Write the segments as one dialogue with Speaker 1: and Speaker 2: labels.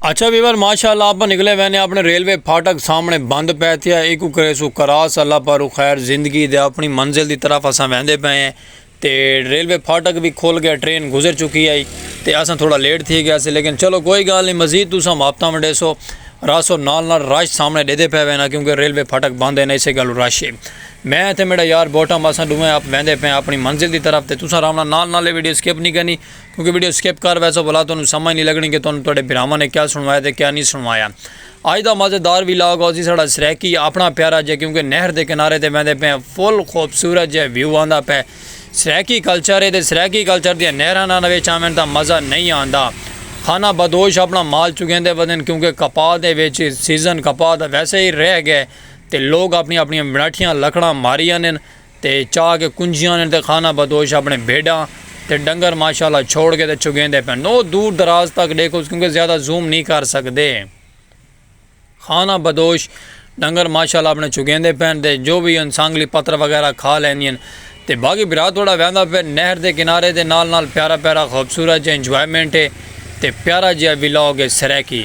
Speaker 1: اچھا ویور ماشاء اللہ اپاں نکلے وینے اپنے ریلوے پھاٹک سامنے بند پے تھیا ایکو کریسو کراس اللہ پارو خیر زندگی دے اپنی منزل دی طرف اساں ویندے پے ہیں تے ریلوے پھاٹک وی کھل گیا ٹرین گزر چکی ہائی تے اساں تھوڑا لیٹ تھی گیا سے لیکن چلو کوئی گال نہیں مزید تساں ماپتاں ونڈیسو راسو نال نال رش سامنے ڈیدے پے وینا کیونکہ ریلوے پھاٹک بند ہیں اسے گالو رش ہے میں تے میڈا یار بوٹم اساں ڈویں اپ ویندے پے ہیں اپنی منزل دی طرف تے تساں رامنا نال نال ویڈیو سکپ نہیں کرنی کیونکہ ویڈیو سکپ کر ویسو بھلا تانوں سمجھ نہیں لگنی کہ تانوں تہاڈے بھراواں نے کیا سنوایا تے کیا نہیں سنوایا اج دا مزیدار وی لاگ اوسی ساڈا سرائیکی اپنا پیارا جے کیونکہ نہر دے کنارے تے ویندے پے فل خوبصورت جے ویو آندا پے سرائیکی کلچر ہے تے سرائیکی کلچر دی نہراں نہ وچ آویں تا مزہ نہیں آندا خانہ بدوش اپنا مال چگیندے ودن کیونکہ کپا دے وچ سیزن کپا دا ویسے ہی رہ گئے تے لوگ اپنی اپنی بناٹھیاں لکڑاں ماری آنن تے چا کے کنجیاں نے تے خانہ بدوش اپنے بھیڈاں تے ڈنگر ماشاءاللہ چھوڑ کے تے چگیندے پن نو دور دراز تک ڈیکھوس کیونکہ زیادہ زوم نی کر سکدے خانہ بدوش ڈنگر ماشاءاللہ اپنے چگیندے پن تے جو وی ان سانگلی پتر وغیرہ کھا لیندین تے باقی بھرا تھوڑا ویندا پے نہر دے کنارے دے نال نال پیارا پیارا خوبصورت جے انجوائمنٹ ہے تے پیارا جیا ولاگ ہے سرائیکی۔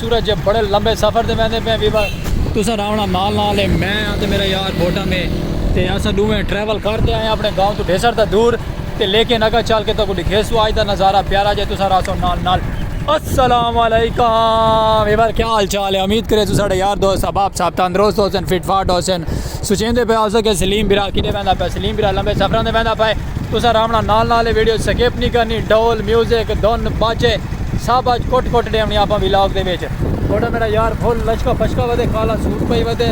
Speaker 1: سورج جے بڑے لمبے سفر تے ویندے پئے ویوا تساں راونا نال نال اے میں آں تے میرا یار بھوٹم اے تے اساں ڈوویں ٹریول کر تے آئے آں اپنے گاؤں توں ڈھیسر تاں دور تے لیکن اگاں چل کے تہاکوں ڈکھیسوں آج دا نظارہ پیارا جے تساں رہسو نال نال السلام علیکم ویور کیا حال چال اے امید کریسوں ساڈے یار دوست احباب صاحب تندرست ہوسن فٹ فاٹ ہوسن سوچیندے پئے ہوسو کہ سلیم بھرا کڈے ویندا پئے سلیم بھرا لمبے سفراں تے ویندا پئے تساں راونا نال نال اے ویڈیو سکپ نی کرنی ڈھول میوزک دھن باجے سب اج کٹ کٹ ڈیونی اپاں ویلاگ دے وچ۔ تہاڈا میڈا یار پھل لشکا پشکا ودے کالا سوٹ پائی ودے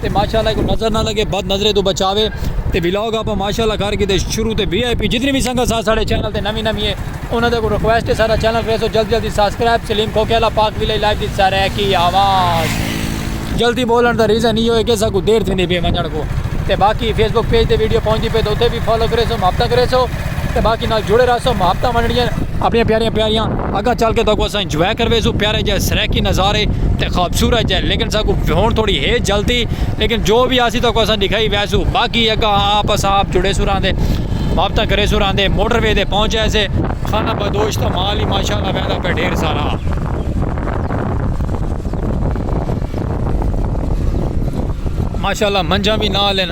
Speaker 1: تے ماشاءاللہ ایکوں نظر نہ لگے بد نظرے توں بچاوے تے ویلاگ اپاں ماشاءاللہ کر گھدے شروع تے وی آئی پی جتنی وی سنگت سا ساڈے چینل تے نوی نوی ہے انہاں دے اگوں ریکویسٹ ہے ساڈا چینل کریسو جلدی جلدی ساسکرائب سلیم کھوکھے آلا پاک ویلائی لائیو دی سرائیکی آواز۔ جلدی بولن دا ریزن ایہو ہے کہ اساکوں دیر تھیندی پئی ونجن کوں تے باقی فیس بک پیج تے ویڈیو پہنچدی پئی تے اتھے وی فالو کریسو محبتاں کریسو۔ تے باقی نال جڑے رہسو محبتاں ونڈنیاں اپنیاں پیاریاں پیاریاں اگاں چل کے تہاکوں اساں انجوائے کرویسوں پیارے جے سرائیکی نظارے تے خوبصورت جے لیکن ساکوں ہن تھوڑی ہے جلدی لیکن جو وی آسی تہاکوں اساں ڈکھائی ویسوں باقی اگاں آپ اساں آپ جڑیسوں راہندے محبتاں کریسوں راہندے موٹر وے تے پہنچ ایسے خانہ بدوش تاں مال ہی ماشاءاللہ ویندا پیا ڈھیر سارا۔ ماشاءاللہ منجھاں وی نال ہن۔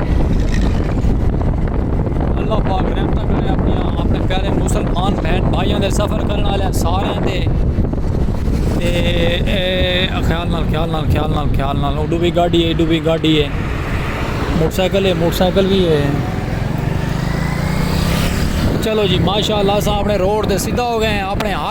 Speaker 1: اللہ پاک رحمت کرے اپنی اپنے پیارے مسلمان بہن بھائیوں دے سفر کرنے والے سارے دے خیال نال خیال نال خیال نال خیال نال اڈو بھی گاڑی ہے اڈو بھی گاڑی ہے موٹر سائیکل ہے موٹر سائیکل بھی ہے چلو جی ماشاء اللہ صاحب نے روڈ دے سیدھا ہو گئے ہیں اپنے ہاتھ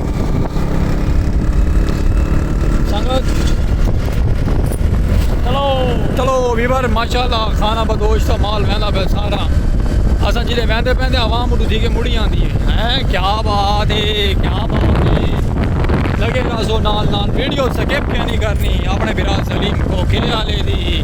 Speaker 1: ویور ماشاءاللہ خانہ بدوش دا مال ویندا پہ سارا اساں جلے ویندے پیندے عوام اڈو تھی کے مڑی آندی ہے ہیں کیا بات ہے کیا بات ہے لگے رازو نال نال ویڈیو سکپ کیا نہیں کرنی اپنے برا سلیم کو کے آلے دی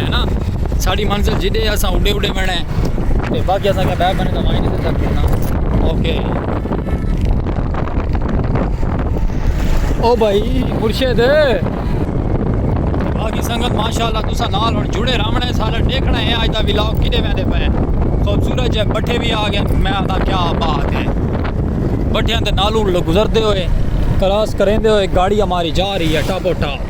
Speaker 1: ہے نا ساڑی منزل جدے اساں اڈے اڈے وینے تے باقی اساں کیا بیٹھ بنے دمائی نہیں دے سکتے نا اوکے او بھائی مرشد باقی سنگت ماشاءاللہ تسا نال ہن جڑے راونا ہے سارا دیکھنا ہے آج دا ویلاگ کدے ویندے پے خوبصورت جے بٹھے بھی آ گئے میں آتا کیا بات ہے بٹھیاں دے نالو گزردے ہوئے کراس کریندے ہوئے گاڑی ہماری جا رہی ہے ٹاپو ٹاپ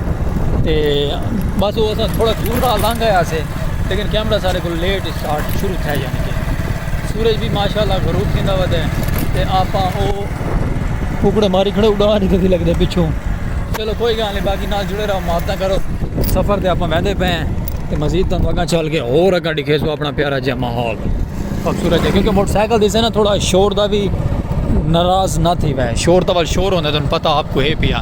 Speaker 1: تے بس او اساں تھوڑا دور دا لنگھ آیا سے لیکن کیمرہ سارے کو لیٹ سٹارٹ شروع تھے یعنی کہ سورج بھی ماشاءاللہ غروب تھیندا وا دے تے آپا او ککڑے ماری کھڑے اڑا نہیں تھی لگدے پچھوں چلو کوئی گال نہیں باقی نال جڑے رہو ماتاں کرو سفر تے آپا ویندے پے ہیں تے مزید تانوں اگاں چل کے اور اگاں دکھے سو اپنا پیارا جے ماحول خوبصورت ہے کیونکہ موٹر سائیکل دیسے نا تھوڑا شور دا بھی ناراض نہ تھی وے شور تول شور ہوندے تانوں پتہ آپ کو ہے پیا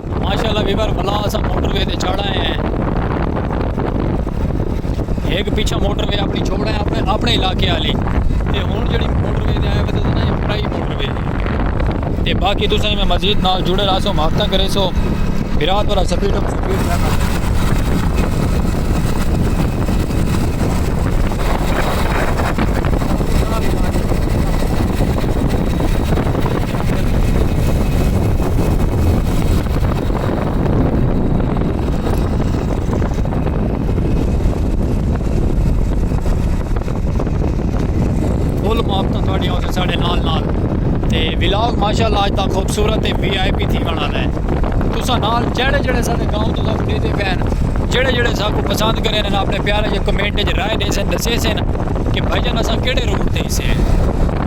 Speaker 1: ماشاءاللہ ویور ولا اساں موٹر وے تے چڑھ آئے ہیں ہک پیچھا موٹر وے اپنی چھوڑ آئے اپنے اپنے علاقے والی تے ہن جڑی موٹر وے تے آئے وے تے نا یہ پرائی موٹر وے ہے تے باقی تساں میں مزید نال جڑے رہسو محبتاں کرے سو برات والا سپیڈ اپ سپیڈ رہنا ولاگ ماشاء اللہ آج تک خوبصورت ہے وی آئی پی تھی بنا رہا ہے تو سا نال جڑے جڑے سارے گاؤں تو سب دے دے پہن جڑے جڑے سب کو پسند کرے ہیں اپنے پیارے جو کمنٹ جو رائے دے سن دسے سن کہ بھائی جانا سا کیڑے روڈ تے ہی سے ہیں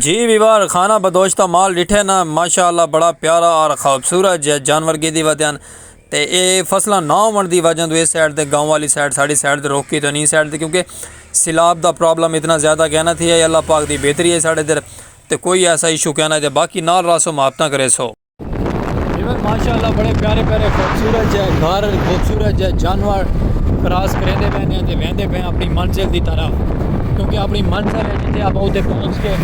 Speaker 1: جی ویوار خانہ بدوش دا مال ڈٹھے نا ماشاءاللہ بڑا پیارا اور خوبصورت جے جانور گیدی ودیان تے اے فصلہ نا ہون دی وجہ دو اے سائیڈ دے گاؤں والی سائیڈ ساڑی سائیڈ دے روکی تو نہیں سائیڈ دے کیونکہ سیلاب دا پرابلم اتنا زیادہ کہنا تھی ہے اللہ پاک دی بہتری ہے ساڑے در تے کوئی ایسا ایشو کہنا جے باقی نال راسو محبتاں کرے سو ایوان ماشاء اللہ بڑے پیارے پیارے خوبصورت جہ گھر خوبصورت جہ جانور کراس کریندے پے نے تے ویندے پے اپنی منزل دی طرف کیونکہ اپنی منزل ہے جتھے آپ اوتے پہنچ کے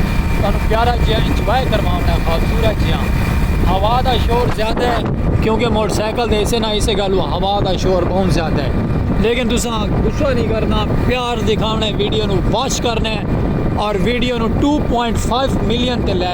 Speaker 1: تانوں پیارا جہاں انجوائے کرواونا ہے خوبصورت جہاں ہوا دا شور زیادہ ہے کیونکہ موٹر سائیکل دے اسے نہ اسے گالو ہوا دا شور بہت زیادہ ہے لیکن تساں غصہ نہیں کرنا پیار دکھاونا ہے ویڈیو نو واچ کرنا ہے اور ویڈیو نو 2.5 ملین تے لے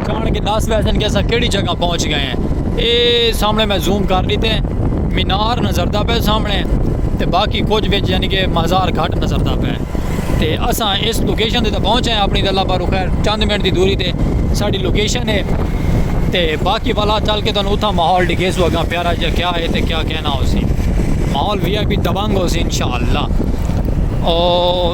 Speaker 1: جان کے ڈس ویسن کہ اساں کیڑی جگہ پہنچ گئے ہیں اے سامنے میں زوم کر دیتے ہیں مینار نظر دا پہ سامنے تے باقی کچھ وچ یعنی کہ مزار گھٹ نظر دا پہ تے اساں اس لوکیشن تے پہنچ ہیں اپنی اللہ بارو خیر چند منٹ دی دوری تے ساڈی لوکیشن ہے تے باقی والا چل کے تانوں اتھا ماحول ڈکھے سو اگاں پیارا جا کیا ہے تے کیا کہنا ہو سی ماحول وی آئی پی دبنگ ہو سی انشاءاللہ او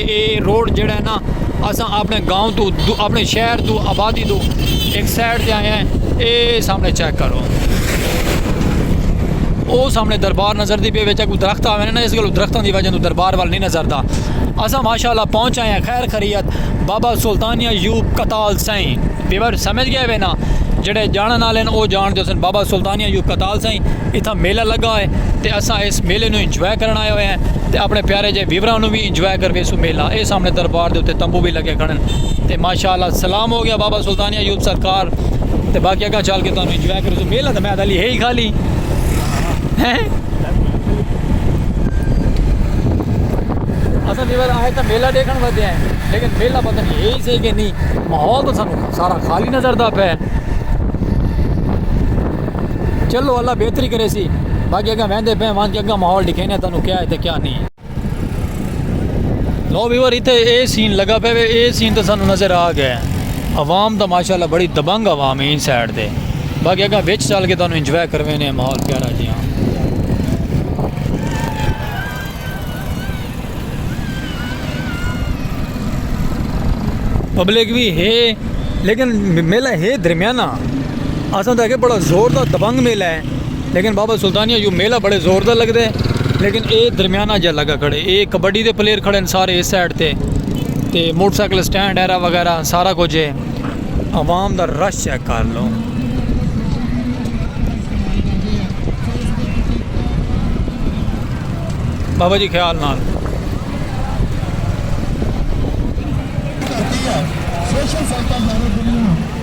Speaker 1: اے روڈ جیڑھا ہے نا اساں اپنے گاؤں توں اپنے شہر توں آبادی توں ایک سائیڈ تے آئے ہیں اے سامنے چیک کرو او سامنے دربار نظر دی پے وچ کو درخت آوے نا اس گلو درختاں دی وجہ تو دربار وال نہیں نظر دا اساں ماشاءاللہ پہنچ آئے ہیں خیر خریت بابا سلطان ایوب کتال سائیں ویور سمجھ گئے وے نا جڑے جانن والے او جان دے سن بابا سلطان ایوب کتال سائیں اتھا میلہ لگا ہے تے اساں اس میلے نو انجوائے کرن آئے ہوئے ہیں تے اپنے پیارے جے ویوراں نو بھی انجوائے کر ویسوں میلہ اے سامنے دربار دے اتے تمبو وی لگے کھڑن تے ماشاء اللہ سلام ہو گیا بابا سلطانیہ یوتھ سرکار تے باقی اگاں چل کے تانوں انجوائے کر ویسوں میلہ تے میں دلی ہے ہی خالی ہیں اساں دیوار آئے تھا میلہ دیکھن ودے ہیں لیکن میلہ پتہ نہیں ہے ہی صحیح کہ نہیں ماحول تو سانو سارا خالی نظر دا پہ چلو اللہ بہتری کرے سی باقی اگاں ویندے پہ وہاں کے اگاں ماحول دکھینے تانوں کیا ہے تے کیا نہیں لو ویور اتھے اے سین لگا پہ وے اے سین تے سانو نظر آ گئے عوام دا ماشاءاللہ بڑی دبنگ عوام ہے ان سائیڈ دے باقی اگا وچ چل کے تانوں انجوائے کروے نے ماحول پیارا جی ہاں پبلک بھی ہے لیکن میلہ ہے درمیانہ اساں تے کہ بڑا زور دا دبنگ میلہ ہے لیکن بابا سلطانیہ یو میلہ بڑے زور دا لگدا ہے لیکن اے درمیانہ جا لگا کھڑے اے کبڈی دے پلیئر کھڑے ہیں سارے اس سائیڈ تے تے موٹر سائیکل سٹینڈ ایرا وغیرہ سارا کچھ ہے عوام دا رش چیک کر لو بابا جی خیال نال سوشل سائیکل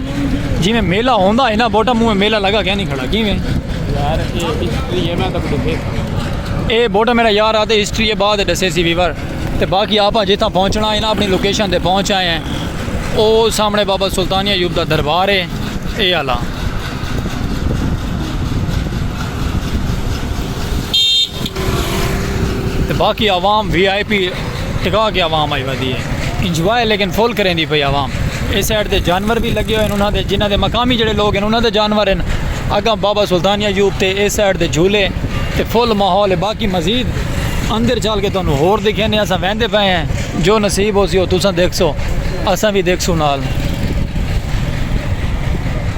Speaker 1: جیویں میلہ ہوندا ہے نا بوٹا منہ میلہ لگا کینی کھڑا کیویں یار اے ہسٹری
Speaker 2: ہے میں تک دسے اے بوٹا میرا یار
Speaker 1: آتے ہسٹری ہے بعد دسے سی ویور تے باقی آپا جتھا پہنچنا ہے نا اپنی لوکیشن تے پہنچ آئے ہیں او سامنے بابا سلطانیہ یوب دا دربار ہے اے آلا تے باقی عوام وی آئی پی ٹکا کے عوام آئی ودی ہے انجوائے لیکن فل کریندی پئی عوام اس سائڈ تے جانور بھی لگے ہوئے انہاں دے جنہاں دے مقامی جڑے لوگ ہیں انہاں دے جانور ہیں اگاں بابا سلطان ایوب تے اس سائڈ تے جھولے تے فل ماحول ہے باقی مزید اندر چل کے تانوں ہور دکھینے اساں ویندے پئے ہیں جو نصیب ہو سی ہو تساں دیکھسو اساں بھی دیکھسو نال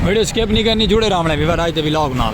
Speaker 1: ویڈیو سکپ نہیں کرنی جڑے راونے بھی وراج دے ولاگ نال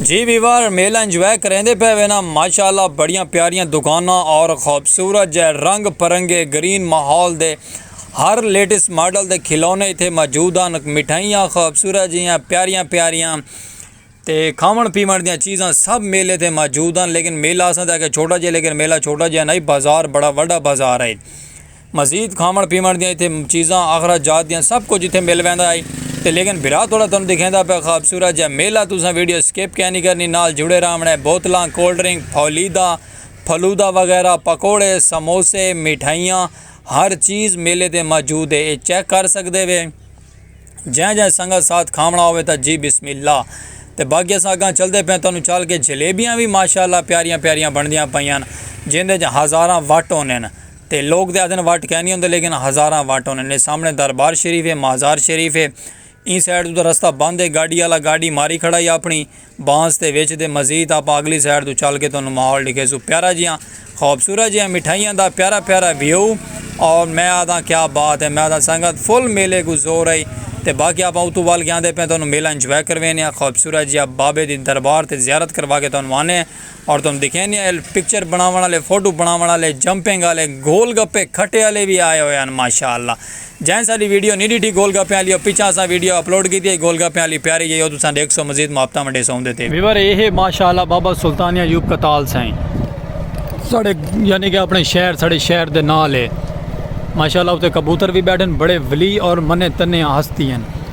Speaker 1: جی ویوار میلہ انجوائے کریں دے پہ وینا ماشاءاللہ بڑیاں پیاریاں دکاناں اور خوبصورت جے رنگ پرنگے گرین ماحول دے ہر لیٹس ماڈل دے کھلونے اتھے موجود ہیں مٹھائیاں خوبصورت جیاں پیاریاں پیاریاں تے کھاون پیون دیاں چیزاں سب میلے تے موجود ہیں لیکن میلہ اساں تے کہ چھوٹا جے لیکن میلہ چھوٹا جے نہیں بازار بڑا وڈا بازار ہے مزید کھاوݨ پیوݨ دیاں اتھے چیزاں آخرت جات دیاں سب کچھ اتھے مل ویندا ہئی تے لیکن بھرا توڑا تانوں دکھیندا پیا خوبصورت جیہا میلہ تساں ویڈیو سکپ کینی کرنی نال جڑے راہوݨ اے بوتلاں کولڈ ڈرنک پھولیدہ پھلودہ وغیرہ پکوڑے سموسے مٹھائیاں ہر چیز میلے تے موجود اے اے چیک کر سکدے وے جیں جیں سنگت ساتھ کھاوݨا ہووے تاں جی بسم اللہ تے باقی اساں اگاں چلدے پیاں تانوں چل کے جلیبیاں وی ماشاءاللہ پیاریاں پیاریاں بݨدیاں پیاں ہن جیندے اچ ہزاراں وٹ ہوندے ہن۔ تے لوک تیں آدھن وٹ کینی ہوندے لیکن ہزاراں وٹ ہوندے نے سامنے دربار شریف ہے مازار شریف ہے ایں سائیڈ توں تاں رستہ بند ہے گاڈی آلا گاڈی ماری کھڑا ہی اپنی بانس دے وچ تے مزید آپاں اگلی سائیڈ توں چل کے تانوں ماحول ڈکھیسوں پیارا جیاں خوبصورت جیاں مٹھائیاں دا پیارا پیارا ویو اور میں آدھاں کیا بات ہے میں آدھاں سنگت فل میلے کو زور ہے تے باقی آپاں اتو وال کے آندے پے تانوں میلہ انجوائے کروینے ہیں خوبصورت جیاں بابے دی دربار تے زیارت کروا کے تانوں آنے ہیں اور تہاݙوں ݙکھیے نی آئل پکچر بݨاوݨ آلے فوٹو بݨاوݨ آلے جمپنگ آلے گول گپے کھٹے آلے وی آئے ہوئے ہن ماشاءاللہ جئیں ساݙی ویڈیو نی ݙٹھی گول گپیاں آلی او پچھاں اساں ویڈیو اپلوڈ کیتی ہئی گول گپیاں آلی پیاری جئی او تساں ݙیکھسو مزید محبتاں ونڈیسوں اوندے تے وی۔ ویور ایہے ماشاءاللہ بابا سلطان ایوب کتال سائیں ساݙے یعنی کہ اپݨے شہر ساݙے شہر دے نال ہے ماشاءاللہ اتے کبوتر وی ٻیٹھن بڑے ولی اور منے تنے ہستی ہن۔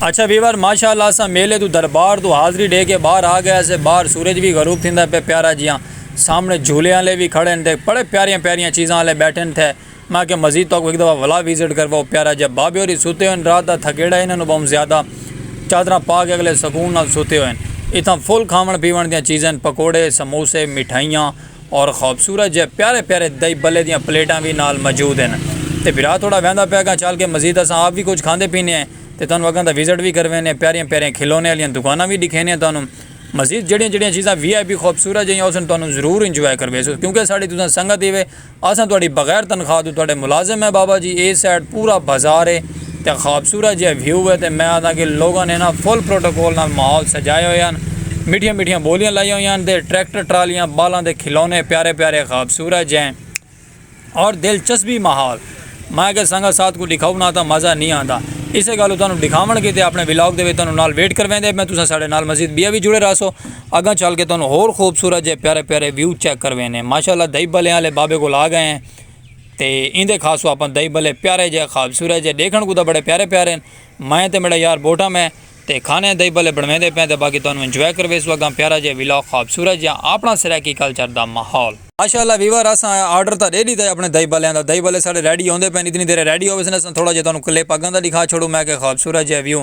Speaker 1: اچھا ویور ماشاء اللہ اساں میلے تو دربار تو حاضری ڈے کے باہر آ گئے سے باہر سورج بھی غروب تھیندا پہ پیارا جیاں سامنے جھولے والے بھی کھڑے ہیں بڑے پیاریاں پیاریاں چیزاں والے بیٹھے تھے میں کہ مزید تو ایک دفعہ ولا وزٹ کرواؤ پیارا جب بابے ہوری سوتے ہوئے رات دا تھکیڑا انہاں نو بہت زیادہ چادراں پا کے اگلے سکون نال سوتے ہوئے اتھاں فل کھاون پیون دیاں چیزیں پکوڑے سموسے مٹھائیاں اور خوبصورت جئے پیارے پیارے دہی بلے دیاں پلیٹاں وی نال موجود ہن تے بھرا تھوڑا ویندا پیا گاں چل کے مزید اساں آپ وی کجھ کھاندے پینے ہیں تے تہانوں اگاں دا وزٹ وی کروینے پیاریاں پیاریاں کھلونے آلیاں دکاناں وی ڈکھینے تہانوں مزید جیڑیاں جیڑیاں چیزاں وی آئی پی خوبصورت جیہیاں اساں تہانوں ضرور انجوائے کرویسوں کیونکہ اساڈی تساں سنگت ہیوے اساں تہاڈی بغیر تنخواہ توں تہاڈے ملازم ہیں بابا جی اے سائیڈ پورا بازار ہے۔ تے خوبصورت جیہا ویو ہے تے میں آکھداں کہ لوگاں نے نا فل پروٹوکول نال ماحول سجائے ہوئے ہن میٹھیاں میٹھیاں بولیاں لائیاں ہوئیاں ہن تے ٹریکٹر ٹرالیاں بالاں دے کھلونے پیارے پیارے خوبصورت جے اور دلچسپی ماحول میں آکھیا سنگت ساتھ کوں ڈکھاؤ نا تاں مزہ نی آندا اسے گالوں تانوں ڈکھاون کیتے اپنے ولاگ دے وچ تانوں نال ویٹ کرویندے پئے تساں ساڈے نال مزید بیا وی جڑے راہسو اگاں چل کے تانوں ہور خوبصورت جے پیارے پیارے ویو چیک کروینے ماشاءاللہ دہی بھلیاں آلے بابے کول آگئے ہیں۔ تے ایندے خاص و اپن دئی بلے پیارے جے خوابصورت جے ڈیکھن کو دا بڑے پیارے پیارے ہیں میں تے میڈا یار بوٹا میں تے کھانے دئی بلے بڑھویں دے پین تے باقی تانوں انجوائے کروے سو اگاں پیارا جے ویلاگ خوابصورت جے اپنا سرائیکی کلچر دا ماحول۔ ماشاءاللہ ویور اساں آرڈر تاں ڈے ڈیتا ہے اپنے دئی بلیاں دا دئی بلے ساڈے ریڈی ہوندے پین اتنی دیرے ریڈی ہووے سن اساں تھوڑا جے تانوں کلپ اگاں دا ڈکھا چھوڑوں میں کہ خوابصورت جے ویو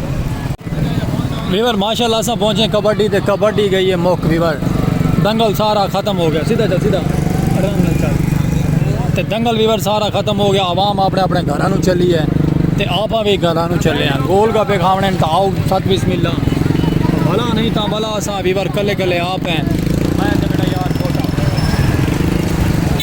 Speaker 2: ویور ماشاء اللہ سا پہنچے کبڈی تے کبڈی گئی ہے مک ویور دنگل سارا ختم ہو گیا سیدھا چل سیدھا آرام نال چل تے دنگل ویور سارا ختم ہو گیا عوام اپنے اپنے گھراں نو چلی ہے تے آپا بھی گھراں نو چلے ہیں گول گپے کھاونے ہیں تاؤ ست بسم اللہ بھلا نہیں تا بھلا سا ویور کلے کلے آپ ہیں میں تے بیٹا یار چھوٹا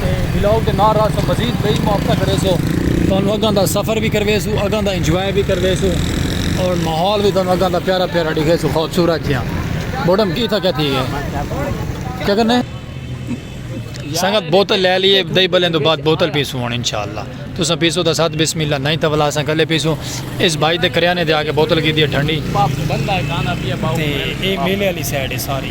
Speaker 2: تے ولاگ دے نال نال تساں مزید بئی ماپتاں کریسو تانوں اگاں دا سفر بھی کرویسو اگاں دا انجوائے بھی کرویسو اور ماحول بھی تانوں اگاں دا پیارا پیارا ڈکھیسو خوبصورت جیاں بوڈم کی تھا کیا تھی گئے کیا کرنے سنگت بوتل لے لیے دئی بلیں دو بعد بوتل پیسو ہون انشاءاللہ تو سا پیسو دا ساتھ بسم اللہ نہیں تھا ولا سا کلے پیسو اس بھائی دے کریانے دے آگے بوتل کی دیئے ٹھنڈی تے اے میلے علی سیڈے ساری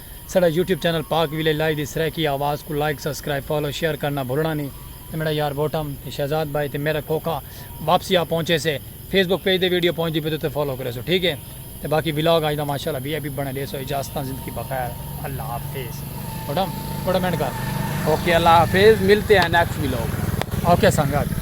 Speaker 2: ساڈا YouTube channel Pak village live دی سرائیکی آواز کوں لائیک سبسکرائیب فالو شیئر کرنا بھلنا نی تے میڈا یار بوٹم تے شہزاد بھائی تے میرا کھوکھا واپسی آ پہنچے سے فیس بک پیج تے ویڈیو پہنچدی پئی تے فالو کریسو ٹھیک ہے تے باقی ولاگ اج دا ماشاءاللہ وی آئی پی بنے ڈیسو اجازتاں زندگی بخیر اللہ حافظ بوٹم
Speaker 3: بوٹم اینڈ کر
Speaker 2: اوکے
Speaker 3: اللہ حافظ
Speaker 2: ملتے
Speaker 3: ہیں نیکسٹ ولاگ
Speaker 2: اوکے
Speaker 3: سنگت